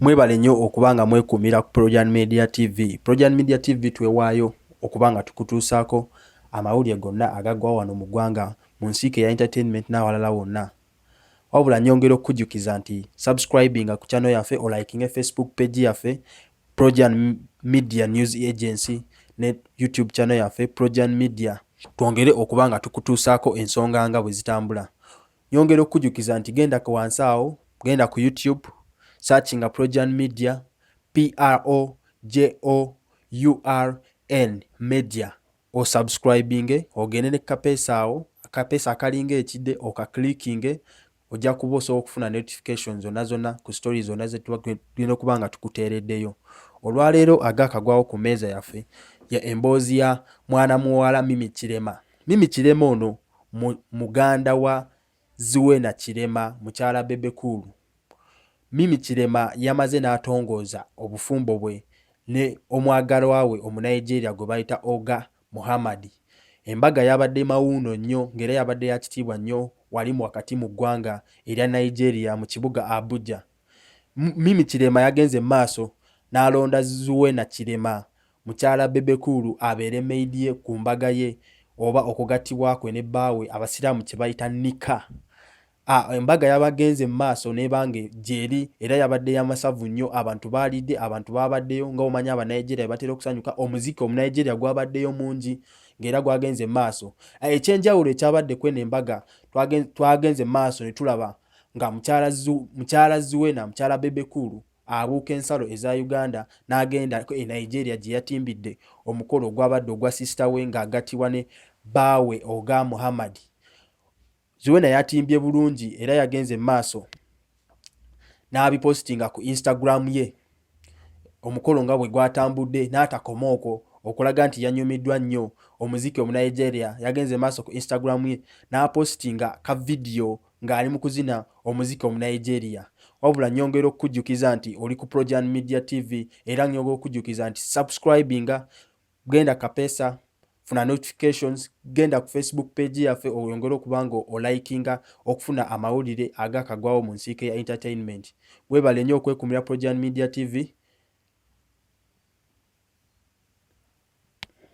Mwebale nnyo okuba nga mwekuumira ku Projan Media TV. Projan Media TV twewaayo okuba nga tukutuusaako amawulire gonna agagwa wano mu ggwanga mu nsiike ya entertainment n'awalala wonna. Wabula nyongera okukujjukiza nti subscribinga ku channel yaffe olikinge Facebook page yaffe Projan Media News Agency ne YouTube channel yaffe Projan Media. Twongere okuba nga tukutuusaako ensonga nga bwe zitambula. Nyongera okukujukiza nti genda ku wansi awo, genda ku YouTube, searchinga Projan Media, P R O J O U R N Media. Osubscribinge, ogende ne kapeesa awo, akapeesa akalinga ekide okaklikinge, ojja kuba osobola okufuna notification zonna zonna ku story zonna ze tuba tulina okuba nga tukuteereddeyo. Olwaleero agaakagwawo ku meeza yaffe ya emboozi ya mwana muwala Mimi Kirema. Mimi Kirema ono muganda wa Zuena Kirema mukyala Bebe Cool. Mimi Kirema yamaze n'atongooza obufumbo bwe ne omwagalwa we Omunigeria gwe bayita Oga Muhammad. Embaga yabadde mawuuno nnyo ng'era yabadde ya kitiibwa nnyo wali wakati mu ggwanga erya Nigeria mu kibuga Abuja. Mimi Kirema yagenze maaso n'alonda Zuena Kirema mukyala Bebe Cool abeere maid ye ku mbaga ye oba okugattibwa kwe ne bbaawe Abasiraamu kye bayita nika. Embaga yabagenze mu maaso n'ebanga gyeri era yabadde ya masavu nnyo. Abantu baalidde, abantu baabaddeyo nga omanyi Abanigeria batera okusanyuka. Omuziki Omunigeria gwabaddeyo mungi ng'era gwagenze mu maaso. Eky'enjawulo ekyabadde kweno embaga twagenze mu maaso ne tulaba nga mukyala zuwena mukyala bebekulu abuuka ensalo eza uganda n'agenda e nigeria gye yatimbidde omukolo ogwabadde ogwa sisita we ng'agattibwa ne baawe oga muhammadi zuwena yatimbye bulungi era yagenze mu maaso n'abipositinga ku instagram ye omukolo nga bwe gwatambudde n'atakoma okwo okulaga nti yanyumiddwa nnyo omuziki omunigeria yagenze maaso ku instagram ye n'apositinga ka vidiyo ng'ali mu kuzina omuziki omunigeria wabula nyongera okukujjukiza nti oli ku projan media tv era nyongera okujjukiza nti subscribinga genda kapesa funa notifications genda ku facebook page yaffe oyongere okuba nga olikinga okufuna amawulire agakagwawo mu nsiike ya entertainment webale nnyo okwekumira projan media tv